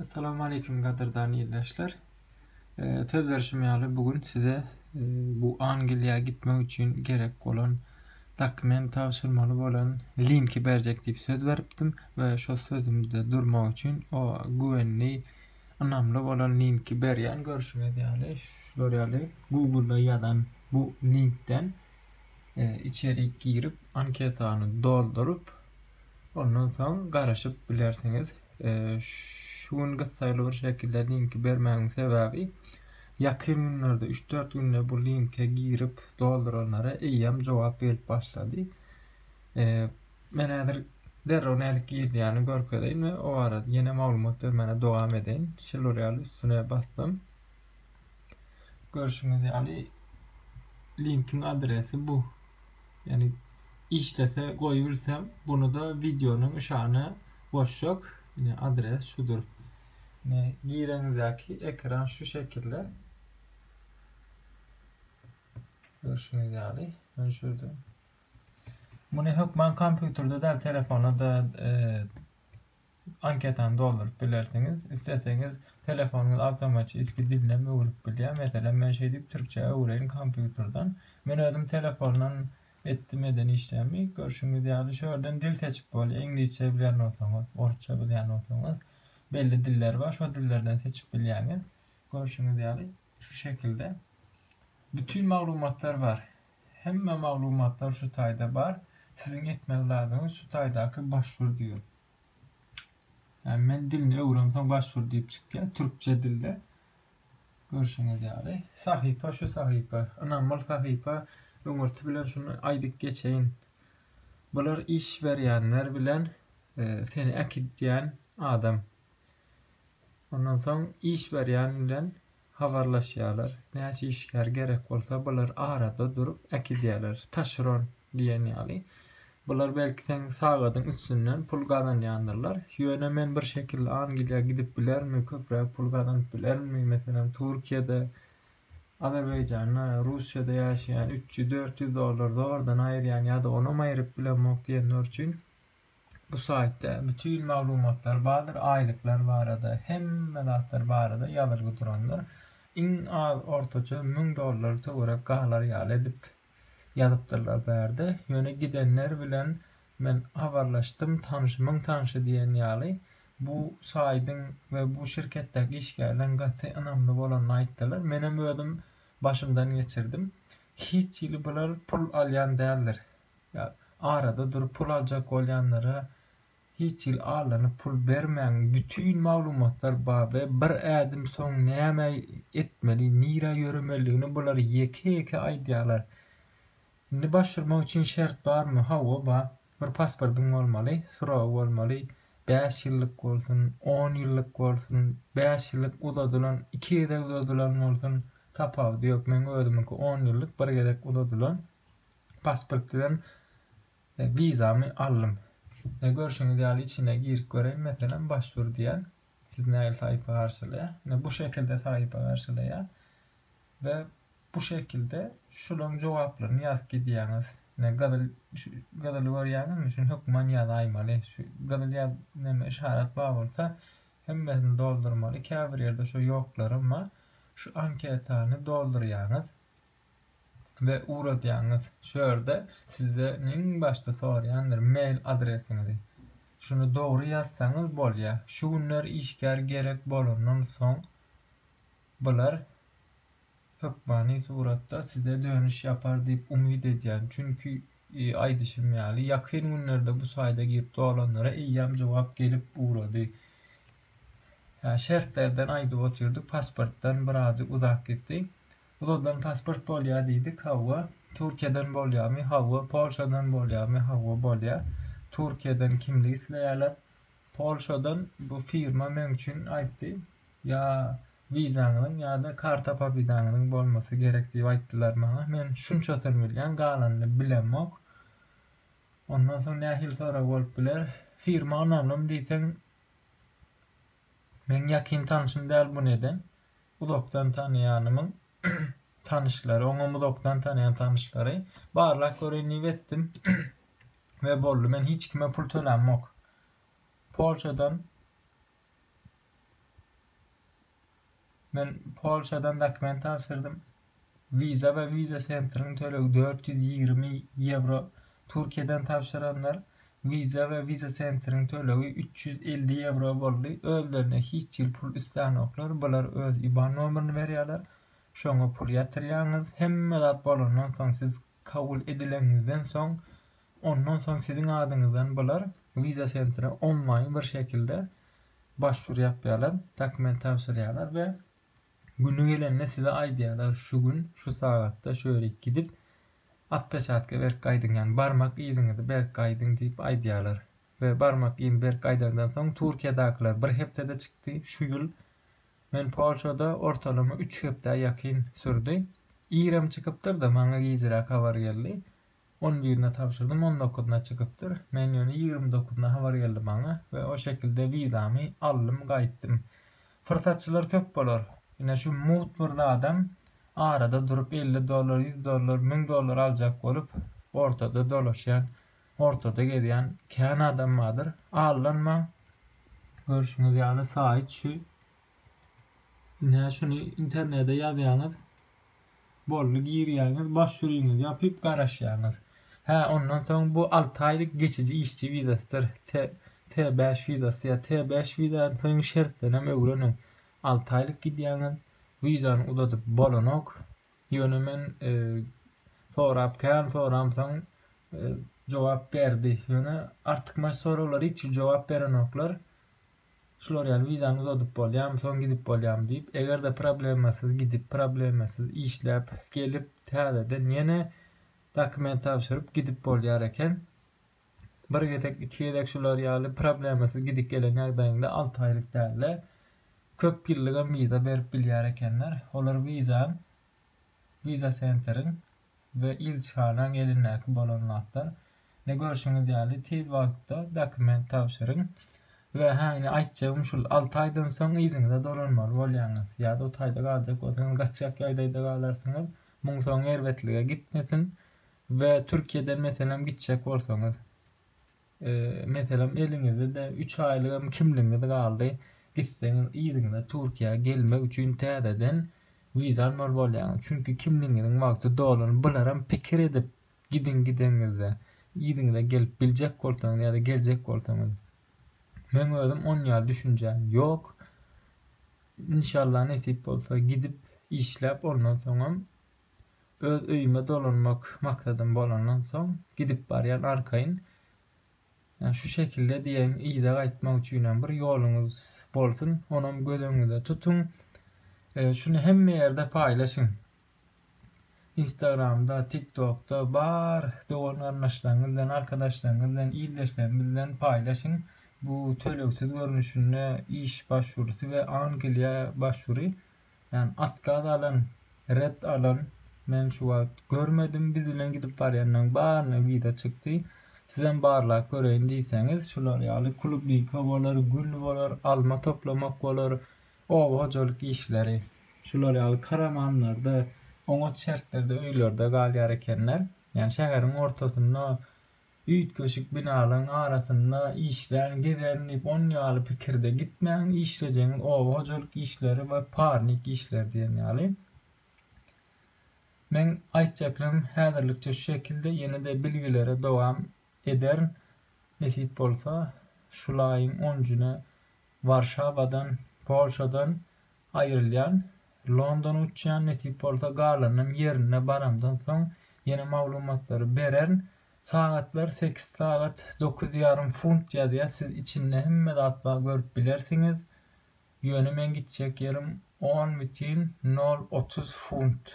Assalamu aleýkum gadyrdan ildeşler. Söz berşim ýaly bu gün size bu Angliýa gitmek üçin gerek bolan dokument tabşyrmaly bolan linki berjek diýip söz beripdim we şo sözümde durmak üçin o güwenli ynamly bolan linki berýän görşüňiz ýaly şular ýaly Google-da ýazan bu linkden içerik girip anketany dolduryp Ondan soň garaşyp bilersiňiz. Şu gün gyssaýly bir şekilde linki bermämiň sebäbi, ýakyn günlerde, üç-dört günde bu linke girip dolduranlara eýýäm jogap gelip başlady. Men häzir derrew nädip girilýäni görkezeýin we o barada ýene maglumat bermäne dowam edeýin. Şeýle bolýarly üstüne basdym. Görşüňiz ýaly linkiň adresi bu. Ýani işlese goýubilsem, buny-da wideonyň yşana goşjak. Ine adres şudur. Ine gireňizdäki ekran şu şekilde. Görşüňiz ýaly, men şurada. Muny hökman kompýuterde däl, telefonda da e, anketany dolduryp bilersiňiz. Isleseňiz telefonyňyz awtomatçiskiý dilinäm öwrüp bilýär. Meselem men şeý diýip türkçä öwreýin kompýuterden. Men özüm telefondan etdim eden işlerimi. Görşüňiz ýaly şu ýerden dil seçip bolýar. Iňlisçe bilen bolsaňyz, orsça bilen bolsaňyz belli diller bar. Şo dillerden seçip bilýäňiz. Görşüňiz ýaly şu şekilde bütin maglumatlar bar. Hemme maglumatlar şu taýda bar. Siziň etmeli zadyňyz şu taýdaky başvur diýiň. Ýa men dilini öwrensoň başvur diýip çykýar türkçe dilde. Görşüňiz ýaly. Sahypa şu sahypa. Ynamly sahypa. Öňürti bilen şuny aýdyp geçeýin. Bular iş berýänler bilen seni äkidýän adam. Ondan soň iş berýän bilen Habarlaşýarlar. Näçe işgär gerek bolsa, bular arada durup äkidýärler. Taşeron diýen ýaly. Bular belki seň sagadyň üstünden pul gazanýandyrlar. Ýöne men bir şekilli Angliýa gidip bilermi, köpräk pul gazanyp bilermi? Meselem, Türkiýede, Azerbaýjanda, Russiýada ýaşaýan üç ýüz, dört ýüz dollar zordan aýyrýan ýa-da onam aýryp bilemok diýenler üçin Bu saýtda bütin maglumatlar bardyr, aýlyklar barada, hemme zatlar barada ýazylgy durandyr. Iň az ortaça müň dollar töwerek galar ýaly edip ýazypdyrlar bu ýerde. Ýöne gidenler bilen men habarlaşdym, tanyşymyň tanyşy diýen ýaly bu saýdyň we bu şirketdäki işgärleň gaty ynamly bolanyny aýtdylar. Menem özüm başymdan geçirdim. Hiç hili bular pul alýan däldir. Ýa arada durup pul aljak bolýanlara hiç hili allanyp pul bermäň bütin maglumatlar bar we bir ädim soň näme etmeli nirä ýöremelidigini bular ýeke ýeke aýdýarlar indi baş urmak üçin şert barmy hawa bar bir pasportyň bolmaly suragy bolmaly bäş ýyllyk bolsun on ýyllyk bolsun bäş ýyllyk uzadylan iki gezek uzadylan bolsun tapawudy ýok meň özümiňki on ýyllyk bir gezek uzadylan. Pasport bilen wizamy aldym. Ne görşüňiz ýaly içine girip göreýin meselem başwur diýen. Siz nägil saýypa garşylaýar. Ne bu şekilde saýypa garşylaýar. Ve bu şekilde şularyň jogaplaryny ýazyp gidýäňiz. Ne gyzyl gyzyly görýäňizmi şuny hökman ýazaýmaly. Şu gyzyl ýaz neme işarat bar bolsa hemmesini doldurmaly. Käbir ýerde şu ýoklaram bar. Şu anketany doldurýaňyz. we ugradýaňyz. Şu ýerde sizden iň başda soraýandyr mail adresiňizi. Şuny dogry ýazsaňyz bolýar. Şu günler işgär gerek bolandan soň bular hökmany suratda size dönüş ýapar diýip umyt edýän. Çünki aýdyşym ýaly ýakyn günlerde bu saýda girip dolanlara eýýäm jogap gelip ugrady. Şertlerden aýdyp otyrdyk, pasportdan birazjyk uzak gitdi. Puldan pasport bolýar diýdik, hawa. Türkiýeden bolýarmy, hawa. Polşadan bolýarmy, hawa, bolýar. Türkiýeden kimlik isleýärler. Polşadan bu firma meň üçin aýtdy, ýa wizaňyzyň ýa-da karta pobydaňyzyň bolmasy gerek diýip aýtdylar maňa. Men şunçasyny bilýän, galanyny bilemok. Ondan soň nähili sorag bolup biler? Firma ynamlymy diýseň, meň ýakyn tanşym däl buny eden. uzakdan tanaýanymyň tanyşlary, oňam uzakdan tanaýan tanyşlary. Barlap göreýin diýip etdim we boldy. Men hiç kime pul tölämok. Polşadan Men Polşadan dokument tabşyrdym. Visa we Visa Centeriň tölegi dört ýüz ýigrimi ýewro, Türkiýeden tabşyranlar Visa we Visa Centeriň tölegi üç ýüz elli ýewro boldy, özlerine hiç hili pul islänoklar, bular öz iban nomerini berýärler, şoňa pul ýatyrýaňyz, hemme zat bolandan soň siz kabul edileniňizden soň, ondan soň siziň adyňyzdan bular Visa Centere onlaýyn bir şekilde başwur ýapýarlar, dokument tabşyrýarlar we. Güni gelende size aýdýarlar şu gün şu sagatda şöýlik gidip atpeçatka berip gaýdyň ýagny barmak yzyňyzy berip gaýdyň diýip aýdýarlar we barmak yzyny berip gaýdandan soň Turkiýadakylar bir hepdede çykdy şu ýyl men Polşada ortalama üç hepdä ýakyn sürdi irem çykypdyrda maňa gijiräk habar geldi On birine tabşyrdym, on dokuzyna çykypdyr. Men ýöne ýigrimi dokuzyna habar geldi maňa we o şekilde wizamy aldym, gaýtdym. Pursatçylar köp bolar. Ine şu mugt bir zadam arada durup elli dollar, ýüz dollar, müň dollar aljak bolup ortada dolaşýan, ortada gezýän kän adam bardyr. Aldanmaň. Görşüňiz ýaly saýt şu. Ine şuny internede ýazýaňyz, Boldy girýäňiz boş ýüriňizi ýapyp garaşýaňyz. Hä ondan soň bu alty aýlyk geçiji işçi wizasydyr T T bäş wizasy ýa T bäş wizanyň şertlenem öwreniň. Alty aýlyk gidýäňiz wizany uzadyp bolanok. Ýöne men sorap kän soramsoň jogap berdi. Ýöne artykmaç soraglara hiç jogap berenoklar. Şular ýaly wizany uzadyp bolýamy, soň gidip bolýamy diýip, eger-de problemasyz gidip, problemasyz işläp gelip, täzeden ýene dokument tabşyryp gidip bolýar eken. Bir gezek, iki gezek şular ýaly problemasyz gidip gelen ýagdaýyňda alty aýlyk däl-de, köp ýyllygam wiza berip bilýär ekenler. Olar wizan, wiza sentriň we ilçihanaň elindäki bolan zatlar. Ine görşüňiz ýaly tiz wagtda dokument tabşyryň we ha ine aýtjagym şul alty aýdan soň yzyňyza dolanmaly bolýaňyz ýa-da o taýda galjak bolsaňyz gaçjak ýagdaýda galarsyňyz muň soňy erbetlige gitmesin we Türkiýeden meselem gitjek bolsaňyz. Meselem eliňizde üç aýlygam kimligiňiz galdy, gitseňiz yzyňyza Türkiýä gelmek üçin täzeden wiza almaly bolýaňyz. Çünki kimligiňiziň wagty dolany. Bularam pikir edip gidiň gideniňizde. Yzyňyza gelip biljek bolsaňyz ýa-da geljek bolsaňyz. Meň özüm on ýaly düşünjäm ýok. Inşallah nesip bolsa gidip işläp ondan soňam Öz öýüme dolanmak maksadym bolandan soň, gidip barýan arkaýyn. Ýa şu şekilde diýeýin, yza gaýtmak üçinem bir ýoluňyz bolsun, onam göz öňüňizde tutuň. Şuny hemme ýerde paýlaşyň. Instagramda, TikTokda, bar dogan-garyndaşlaryňyz bilen, arkadaşlaryňyz bilen, ildeşleriňiz bilen paýlaşyň. Bu tölegsiz görnüşinde iş başwurusy we Angliýa başwury. Ýani otkaz alan red alan men şu wagt görmedim biz bilen gidip barýanlaň baryna wiza çykdy sizem barlap göreýin diýseňiz şular ýaly klubnika bolar gül bolar alma toplamak bolar oba hojalyk işleri şular ýaly karamanlarda oňat şertlerde öýlerde galýar ekenler ýani şäheriň ortasynda Üýtgeşik binalaryň arasynda işlän, gezän diýip on ýaly pikirde gitmäň, işlejegiňiz oba hojalyk işleri we parnik işleri diýen ýaly. Meň aýtjaklarym häzirlikçe şu şekilde, ýene-de bilgilere dowam ederin. Nesip bolsa, şulaýyň on njyna Warşawadan, Polşadan aýrylýan, Londona uçýan, nesip bolsa galanam ýerine baramdan soň ýene maglumatlary bererin. Sagatlar sekiz sagat dokuz ýarym funt ýazýar, siz içinde hemme zat bar görüp bilersiňiz. Ýöne meň gitjek ýerim on bütin nol otuz funt,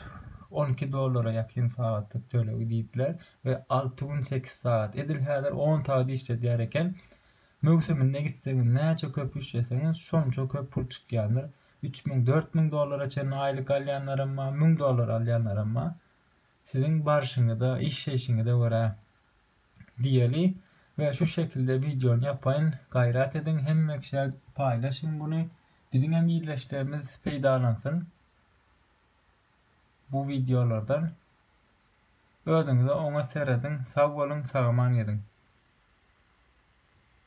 on iki dollara ýakyn sagatlyk tölegi diýdiler we alty gün sekiz sagat, edil häzir on sagat işledýär eken. Möwsüminde gitseňiz näçe köp üşeseňiz şonça köp pul çykýandyr. Üç müň, dört müň dollara çenli aýlyk alýanlaram bar, müň dollar alýanlaram bar. Siziň barşyňyza, işleýşiňize görä. Diýeli we şu şekilde wideony ýapaýyn. Gaýrat ediň hemme kişä paýlaşyň muny. Biziň hem ildeşlerimiz peýdalansyn bu wideolardan. Özüňize oňat serediň. Sag boluň, sagaman geziň.